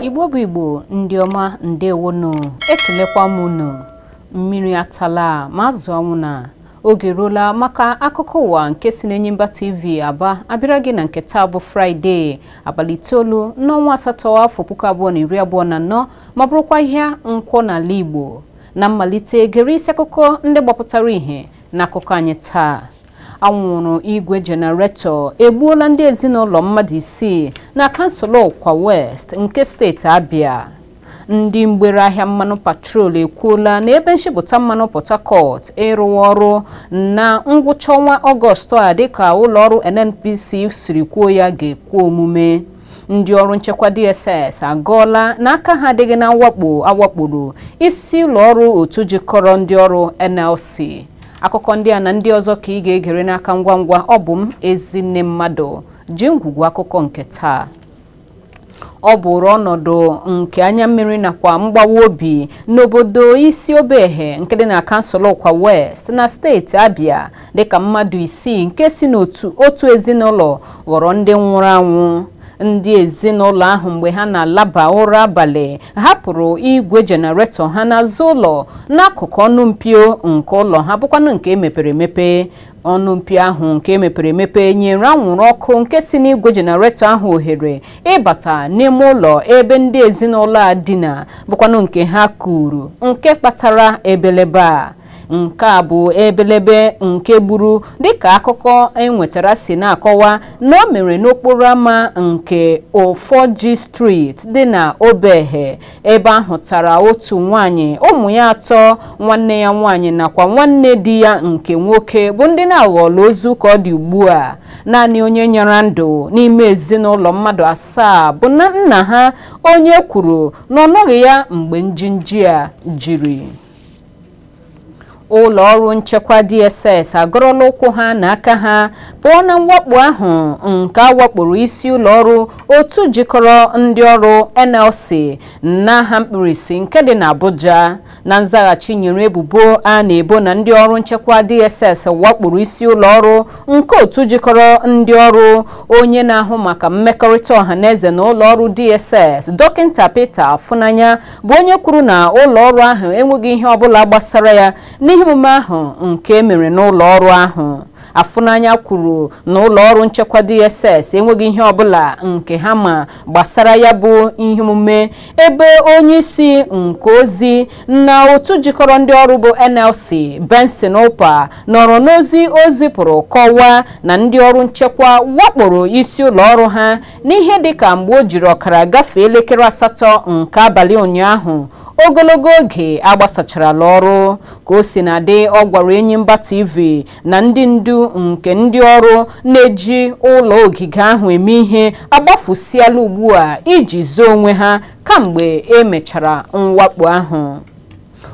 igbo bụ igbo ndị ọma ndewonu ekelekwa m unu mmiri atala ma azụ ọnwụna oge ruola maka akụkọ ụwa nke si n'Enyimba TV Aba abịara gị na nke taa bụ Fraịde abalị itoolu n'ọnwa asatọ afọ puku abụọ na iri abụọ na anọ ma bụrụkwa ahịa Nkwọ n'ala Igbo na mmalite gere isi akụkọ ndị gbapụtara ihe n'akụkọ anyị taa anwụrụ igwe jenaretọ egbuola ndị ezinụlọ mmadụ isii na kansụl Ụkwa West nke steeti Abia ndị mgbere ahịa mmanụ petrol ekwuola na ebe nshipụta mmanụ port harcourt ịrụwa ọrụ na ngwụcha ọnwa ọgọstụ a dịka ụlọọrụ nnpc siri kwuo ya ga-ekwe omume ndị ọrụ nchekwa DSS agọọla na aka ha adịghị na mwakpo a wakporo isi ụlọ ọrụ otu jikọrọ ndị ọrụ NLC akụkọ ndị a na ndị ọzọ ka ị ga-egere n'aka ngwa ngwa ọ bụ m ezinne mmadụ ji ngwugwu akụkọ nke taa ọ bụrụ ọnọdụ nke anya mmiri nakwa mgbawa obi n'obodo isi obehe nke dị na kansụl ụkwa west na steeti abia dịka mmadụ isii nke si n'otu ezinụlọ ghọrọ ndị nwụrụ anwụ ndị ezinụlọ ahụ mgbe ha na-alaba ụra abalị hapụrụ igwe jenaretọ ha n'azụ ụlọ n'akụkụ ọnụ mpio nke ụlọ ha bụkwanụ nke e mepere emepe ọnụ mpio ahụ nke e mepere emepe nyere anwụrụ ọkụ nke si n'igwe jenareto ahụ ohere ịbata n'ime ụlọ ebe ndị ezinụlọ a dina bụkwanụ nke ha kuru nke kpatara ebelebe a nke a bụ ebelebe nke gburu dịka akụkọ e nwetara si na-akọwa na o mere n'okporo ámá nke ofoji street dị na obehe ebe a hụtara otu nwaanyị ụmụ ya atọ nwanne ya nwaanyị nakwa nwanne di ya nke nwoke bụ ndị na-aghọọla ozu ka ọ dị ugbu a naanị onye nyara ndụ n'ime ezinụlọ mmadụ asaa bụ nna ha onye kwuru na ọ nọghị ya mgbe njinji a jiri ụlọ ọrụ nchekwa DSS agọrọla ụkwụ ha na aka ha pụọ na mwakpo ahụ nke a wakporo isi ụlọ ọrụ otu jikọrọ ndị ọrụ NLC n'aha mkpirisi nke dị n'Abuja na nzaghachi nyere ebubo a na-ebo na ndị ọrụ nchekwa DSS wakporo isi ụlọ ọrụ nke otu jikọrọ ndị ọrụ onye na-ahụ maka mmekọrịta ọha na eze na ụlọ ọrụ DSS dọkịta Peter Afunanya bụ onye kwuru na ụlọ ọrụ ahụ enweghị ihe ọbụla gbasara ya n'ihe omume ahụ nke emere n'ụlọ ọrụ ahụ Afunanya kwuru na ụlọ ọrụ nchekwa DSS enweghị ihe ọbụla nke ha ma gbasara ya bụ ihe omume ebe onye isi nke ozi na otu jikọrọ ndị ọrụ bụ NLC Benson Upah nọrọ n'ozi o zipụrụ kọwaa na ndị ọrụ nchekwa wakporo isi ụlọ ọrụ ha n'ihe dịka mgbe o jiri ọkara gafee elekere asatọ nke abalị ụnyaahụ ogologo oge agbasacharala ọrụ ka o sina dị ọ gwara Enyimba TV na ndị ndu nke ndị ọrụ na-eji ụlọ ogige ahụ eme ihe agbafusiala ugbu a iji zoo onwe ha kamgbe emechara mwakpo ahụ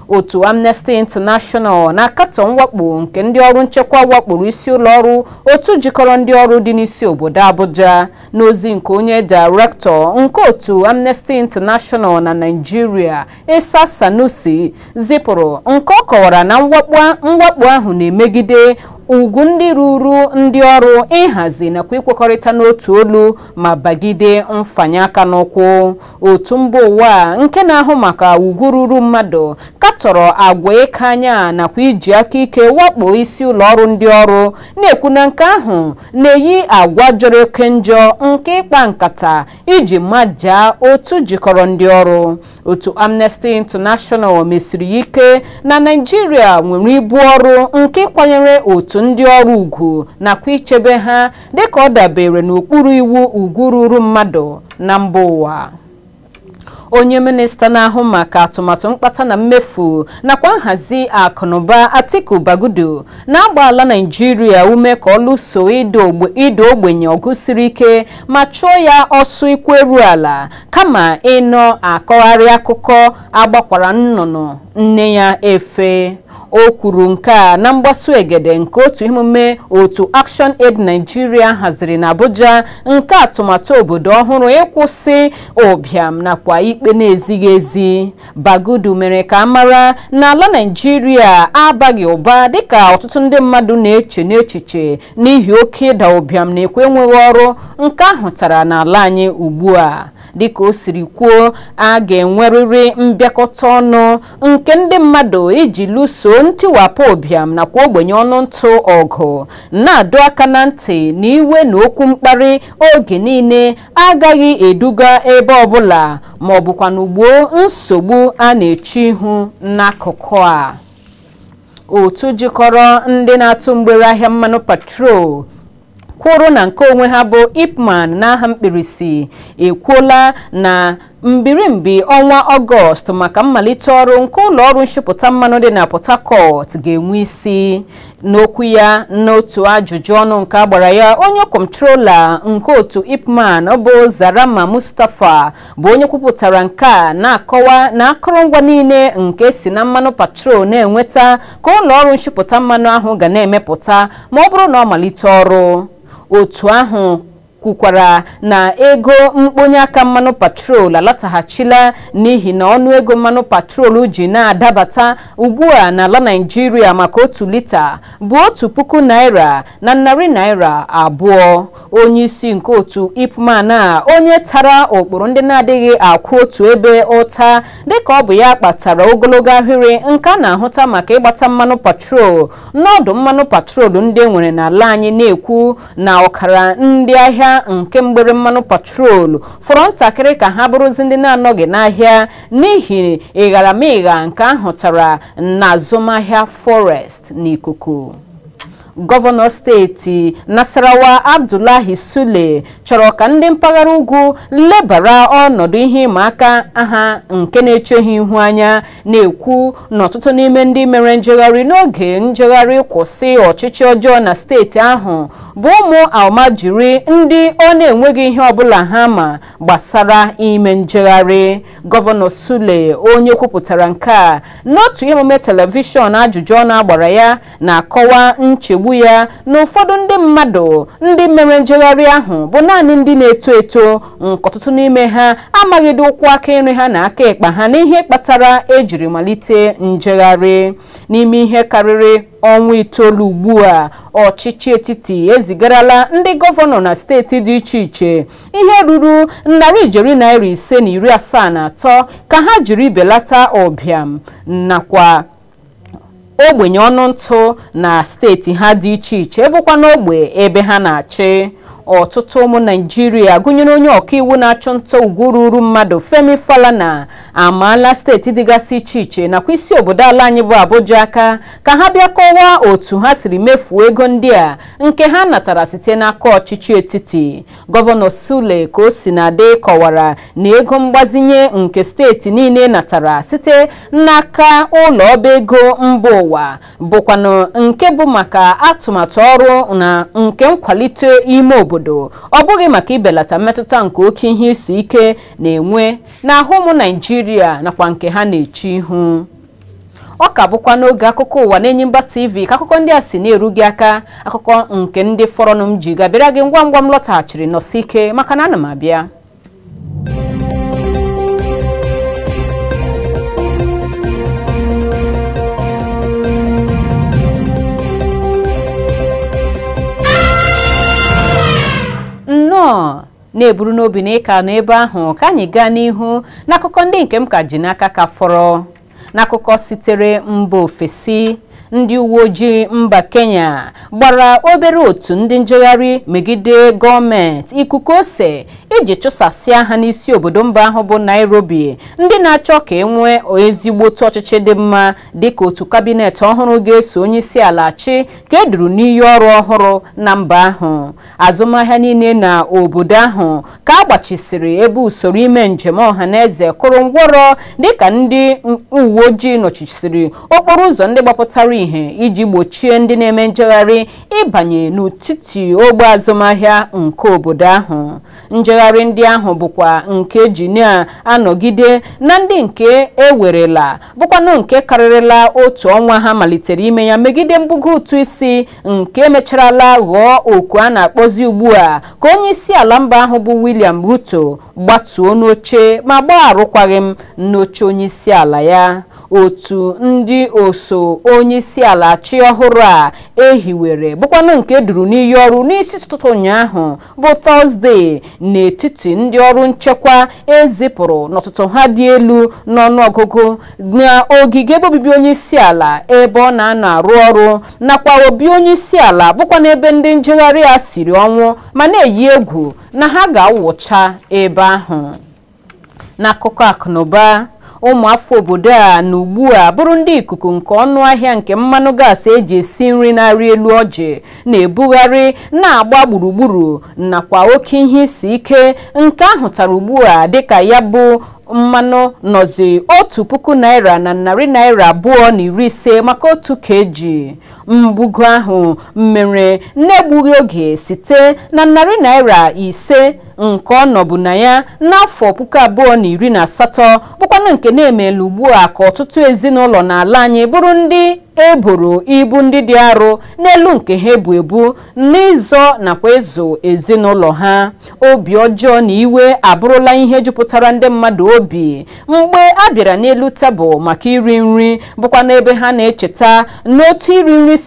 otu amnesty international na-akatọ mwakpo nke ndị ọrụ nchekwa wakporo isi ụlọ ọrụ otu jikọrọ ndị ọrụ dị n'isi obodo abuja n'ozi nke onye direktọ nke otu amnesty international na naijiria isa sanusi zipụrụ nke ọ kọwara na mwakpo ahụ na-emegide ugwu ndị ruru ndị ọrụ ịhazi nakwa ikwekọrịta n'otu olu ma bagide mfanye aka n'ụkwụ otu mba ụwa nke na-ahụ maka ugwu ruru mmadụ katọrọ agwa ịka anya nakwa iji aka ike wakpo isi ụlọ ọrụ ndị ọrụ na-ekwu na nke ahụ na-eyi agwa jọrọ oke njọ nke ịkpa nkata iji majaa otu jikọrọ ndị ọrụ otu Amnesty International mesiri ya ike na Naịjirịa nwere ibu ọrụ nke ịkwanyere otu ndị ọrụ ugwu nakwa ichebe ha dịka ọ dabere n'okpuru iwu ugwu ruru mmadụ na mba ụwa onye minista na-ahụ maka atụmatụ mkpata na mmefu nakwa nhazi akụnụba Atiku Bagudu na-agba ala Naịjirịa ume ka ọ lụso ịda ogbenye ọgụ siri ike ma chụọ ya ọsọ ụkwụ eru ala kama ịnọ akọgharị akụkọ agbakwara nnụnụ nne ya efe o kwuru nke a na mgbasu egede nke otu emume otu Action Aid Nigeria haziri na Abuja nke atụmatụ obodo ọhụrụ ịkwụsị ụbịam nakwa ikpe na-ezighị ezi Bagudu mere ka a mara na ala Nigeria abaghị ụba dịka ọtụtụ ndị mmadụ na-eche n'echiche n'ihi oke ịda ụbịam nakwa enweghị ọrụ nke ahụtara n'ala anyị ugbu a dịka o siri kwuo a ga-enwerịrị mbịakọta ọnụ nke ndị mmadụ iji lụso ntiwapụ ụbịam nakwa ogbenye ọnụ ntụ ọgụ na-adọ aka na ntị na iwe na okwu mkparị oge niile agaghị eduga ebe ọbụla ma ọ bụkwanụ gboo nsogbu a na-eche ihu n'akụkụ a otu jikọrọ ndị na-atụ mgbere ahịa mmanụ patrol kwụrụ na nke onwe ha bụ ipman n'aha mkpirisi ekwuola na mbirimbi ọnwa ọgọst maka mmalite ọrụ nke ụlọ ọrụ nshipụta mmanụ dị na port harcourt ga-enwe isi n'okwu ya n'otu ajụjụ ọnụ nke a gbara ya onye kọntrola nke otu ipman bụ zarama mustapha bụ onye kwupụtara nke a na-akọwa na akụrụngwa niile nke e si na mmanụ patrol na-enweta ka ụlọ ọrụ nshipụta mmanụ ahụ ga na-emepụta ma ọ bụrụ na ọ malite ọrụ otu ahụ kwukwara na ego mkponye aka mmanụ patrol alataghachila n'ihi na ọnụ ego mmanụ patrol ji na-adabata ugbu a n'ala Naịjirịa maka otu lita bụ otu puku naira na narị naira abụọ onye isi nke otu ipman a onye tara ụkpụrụ ndị na-adịghị akwụ otu ebe ụta dịka ọ bụ ya kpatara ogologo ahịrị nke a na-ahụta maka ịgbata mmanụ patrol n'ọdụ mmanụ patrol ndị e nwere n'ala anyị na-ekwu na ọkara ndị ahịa nke mgbere mmanụ patrol fọrọ ntakịrị ka ha bụrụzi ndị na-anọghị n'ahịa n'ihi ịgharamịgha nke a hụtara na azụmahịa forex n'ikuku gọvanọ steeti Nasarawa Abdullahi Sule chọrọ ka ndị mpaghara ugwu lebara ọnọdụ ihe ịma aka ha nke na-eche ha ihu anya na-ekwu na ọtụtụ n'ime ndị mere njegharị n'oge njegharị kwụsị ọchịchị ọjọọ na steeti ahụ bụ ụmụ almajiri ndị ọ na-enweghị ihe ọbụla ha ma gbasara ime njegharị gọvanọ Sule onye kwupụtara nke a n'otu emume telivishọn ajụjụ ọnụ a gbara ya na-akọwa nchegbu ya na ụfọdụ ndị mmadụ ndị mere njegharị ahụ bụ naanị ndị na-eto eto nke ọtụtụ n'ime ha amaghịdị ụkwụ aka nri ha na aka ekpa ha n'ihe kpatara e jiri malite njegharị n'ime ihe karịrị ọnwa itoolu ugbu a ọchịchị etiti ezigarala ndị gọvanọ na steeti dị iche iche ihe ruru narị ijeri naira ise na iri asaa na atọ ka ha jiri belata ụbịam nakwa ogbenye ọnụ ntụ na steeti ha dị iche iche bụkwa n'ogbe ebe ha na-achị ọtụtụ ụmụ naijiria gụnyere onye ọkaiwu na-achụ nta ugwu ruuru mmadụ femi falana amaala steeti dịgasị iche iche nakwa isi obodo ala anyị bụ abuja aka ka ha bịa kọwaa otu ha siri mefuo ego ndị a nke ha natara site n'aka ọchịchị etiti Gọvanọ Sule ka o sina dị kọwara na ego mgbazinye nke steeti niile natara site n'aka ụlọ ọba ego mba ụwa bụkwanụ nke bụ maka atụmatụ ọrụ na nke nkwalite ime obodo ọ bụghị maka ibelata mmetụta nke oke ihe isi ike na-enwe n'ahụ ụmụ Naijiria nakwa nke ha na-eche ihu ọ ka bụkwa n'oge akụkọ ụwa n'Enyimba TV ka akụkọ ndị a si na-eru gị aka akụkọ nke ndị fọrọnụ m ji ga-abịara gị ngwa ngwa m lọtaghachiri nọsi ike maka na ana m abịa na-eburu n'obi na ị ka nọ ebe ahụ ka anyị gaa n'ihu n'akụkọ ndị nke m ka ji n'aka ka fọrọ n'akụkọ sitere mba ofesi ndị uwe ojii mba kenya gbara obere otu ndị njegharị megide gọọmenti ikuku ose iji chụsasịa ha n'isi obodo mba ahụ bụ nairobi ndị na-achọ ka enwee ezigbote ọchịchị dị mma dịka otu kabinet ọhụrụ ga-eso onye isi ala achị ka eduru n'iyi ọrụ ọhụrụ na mba ahụ azụmahịa niile na obodo ahụ ka a gbachisiri ebe usoro ime njem ọha na eze kụrụ ngwọrọ dịka ndị uwe ojii nọchisiri okporo ụzọ ndị gbapụtara ihe iji gbochie ndị na-eme njegharị ịbanye n'etiti ogbe azụmahịa nke obodo ahụ njegharị ndị ahụ bụkwa nke eji na-anọgide na ndị nke ewerela bụkwanụ nke karịrịla otu ọnwa ha malitere ime ya megide mbugo ụtụ isi nke mecharala ghọọ oku a na-akpọzi ugbu a ka onye isi ala mba ahụ bụ William Ruto gbatuo n'oche ma gbaa arụkwaghị m n'oche onye isi ala ya otu ndị oso onye isi ala achị ọhụrụ a ehiwere bụkwanụ nke e duru n'iyi ọrụ n'isi ụtụtụ ụnyaahụ bụ tọzdee n'etiti ndị ọrụ nchekwa ezipụrụ n'ọtụtụ ha dị elu n'ọnụọgụgụ n'ogige ebe obibi onye isi ala ebe ọ na-anọ arụ ọrụ nakwa obi onye isi ala bụkwa n'ebe ndị njegharị a siri ọnwụ ma na-eyi egwu na ha ga-awụcha ebe ahụ n'akụkọ akụnụba ụmụafọ obodo a na ugbu a bụrụ ndị ikuku nke ọnụ ahịa nke mmanụ gaasị eji esi nri na-arị elu ọjị na-ebugharị na-agba gburugburu nakwa oke ihe isi ike nke ahụtara ugbu a dịka ya bụ mmanụ nọzi otu puku naira na narị naira abụọ na iri ise maka otu keji mbugo ahụ mere n'egbughị oge site na narị naira ise nke ọ nọbu na ya n'afọ puku abụọ na iri na asatọ bụkwanụ nke na-emela ugbu a ka ọtụtụ ezinụlọ n'ala anyị bụrụ ndị eboro ibu ndị dị arụ n'elu nke ha ebu ebu n'ịzọ nakwa ịzụ ezinụlọ ha obi ọjọọ na iwe abụrụla ihe jupụtara ndị mmadụ obi mgbe a bịara n'elu tebụl maka iri nri bụkwanụ ebe ha na-echeta n'otu iri nri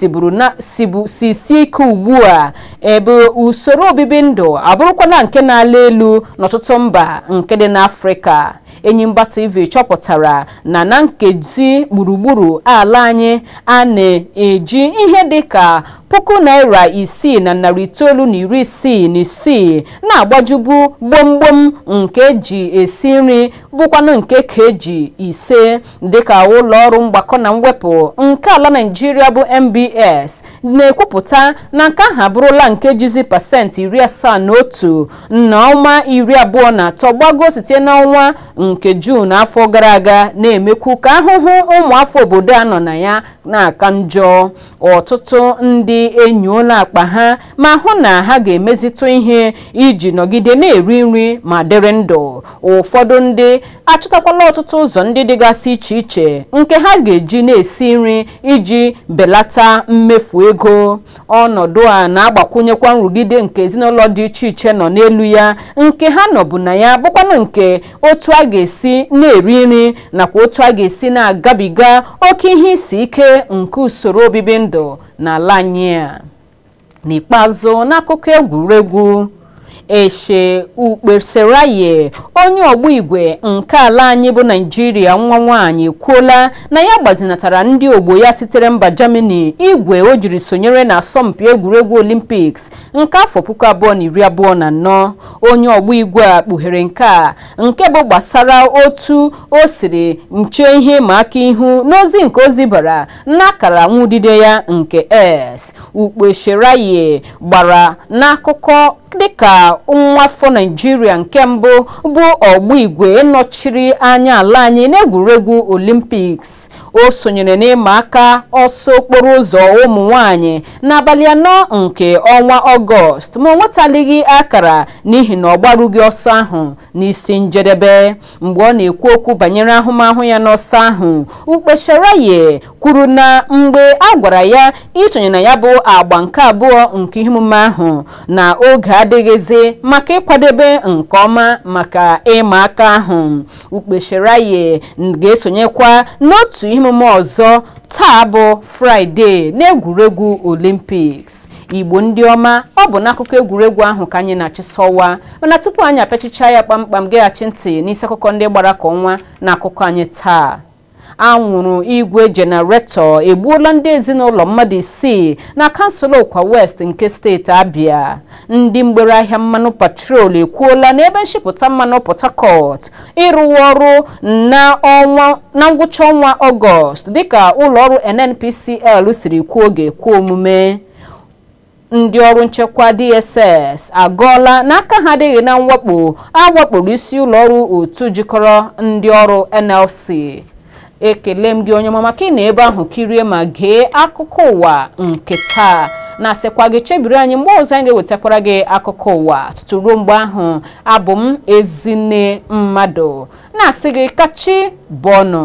si sie ike ugbu a ebe usoro obibi ndụ abụrụkwana nke na-ala elu n'ọtụtụ mba nke dị n'afrịka enyimba tv chọpụtara na na nkezi gburugburu ala anyị a na-eji ihe dị ka puku naira isii na narị itoolu na iri isii na isii na-agbajubu gbomgbom nke eji esi nri bụkwanụ nke kg ise dịka ụlọ ọrụ mgbakọ na mwepụ nke ala naijiria bụ nbs na-ekwupụta na nke ahụ abụrụla nke jizi pasentị iri asaa na otu na ụma iri abụọ na atọ gbago site n'ọnwa nke Juun afọ gara aga na-emekwu ka ahụhụ ụmụafọ obodo a nọ na ya na-aka njọ ọtụtụ ndị enyoola akpa ha ma hụ na ha ga-emezitụ ihe iji nọgide na-eri nri ma dịrị ndụ ụfọdụ ndị achọtakwala ọtụtụ ụzọ ndị dịgasị iche iche nke ha ga-eji na-esi nri iji belata mmefu ego ọnọdụ a na-agbakwụnyekwa nrụgide nke ezinụlọ dị iche iche nọ n'elu ya nke ha nọbu na ya bụkwanụ nke otu a ga-esi na-eri nri nakwa otu a ga-esi na-agabiga oke ihe isi ike nke usoro obibi ndụ n'ala anyị a n'ikpeazụ n'akụkọ egwuregwu ese ukpeseraye onye ọgba igwe nke ala anyị bụ naijiria nwa nwaanyị ekwuola na ya gbazinatara ndị ogbo ya sitere mba germany igwe o jiri sonyere na asọmpi egwuregwu olimpiks nke afọ puku abụọ na iri abụọ na anọ onye ọgba igwe a kpughere nke a nke bụ gbasara otu o siri chee ihe ịma aka ihu n'ozi nke o zibara n'akara nwudide ya nke x ukpeseraye gbara n'akụkọ dịka nwafọ naijiria nke mbụ bụ ọgba igwe nọchiri anya ala anyị n'egwuregwu olimpiks o sonyere n'ịma aka ọsọ okporo ụzọ ụmụ nwanyị n'abalị anọ nke ọnwa ọgọst ma o nwetalighị akara n'ihi na ọ gbarughị ọsọ ahụ n'isi njedebe mgbe ọ na-ekwu okwu banyere ahụmahụ ya n'ọsọ ahụ ukpeseraye kwuru na mgbe a gwara ya isonye na ya bụ agba nke abụọ nke ihe omume ahụ na oge adịghịzi maka ịkwadebe nke ọma maka ịma aka ahụ ukpeseraye ga-esonyekwa n'otu ihe omume ọzọ taa bụ fraịde n'egwuregwu olimpiks igbo ndị ọma ọ bụ n'akụkọ egwuregwu ahụ ka anyị na-achịsọwa mana tupu anyị apịachichaa ya kpamkpam geghachi ntị n'isi akụkọ ndị gbara ka ọnwa na akụkọ anyị taa anwụrụ igwe jenaretọ egbuola ndị ezinụlọ mmadụ isii na kansụl ụkwa west nke steeti abịa ndị mgbere ahịa mmanụ petrol ekwuola na ebe nshipụta mmanụ port harcourt ịrụwa ọrụ na ngwụcha ọnwa ọgọst dịka ụlọọrụ nnpcl siri kwuo ọ ga-ekwe omume ndị ọrụ nchekwa dss agọọla na aka ha adịghị na mwakpo awakporo isi ụlọọrụ otu jikọrọ ndị ọrụ nlc ekele m gị onye ọma maka ịnọ ebe ahụ kirie ma gee akụkọ ụwa nke taa na-asịkwa gị chebiri anyị mgbe ọzọ anyị ga-ewetakwara gị akụkọ ụwa tutu ruo mgbe ahụ abụ m ezinne mmadụ na-asị gị ka chi bọọ nụ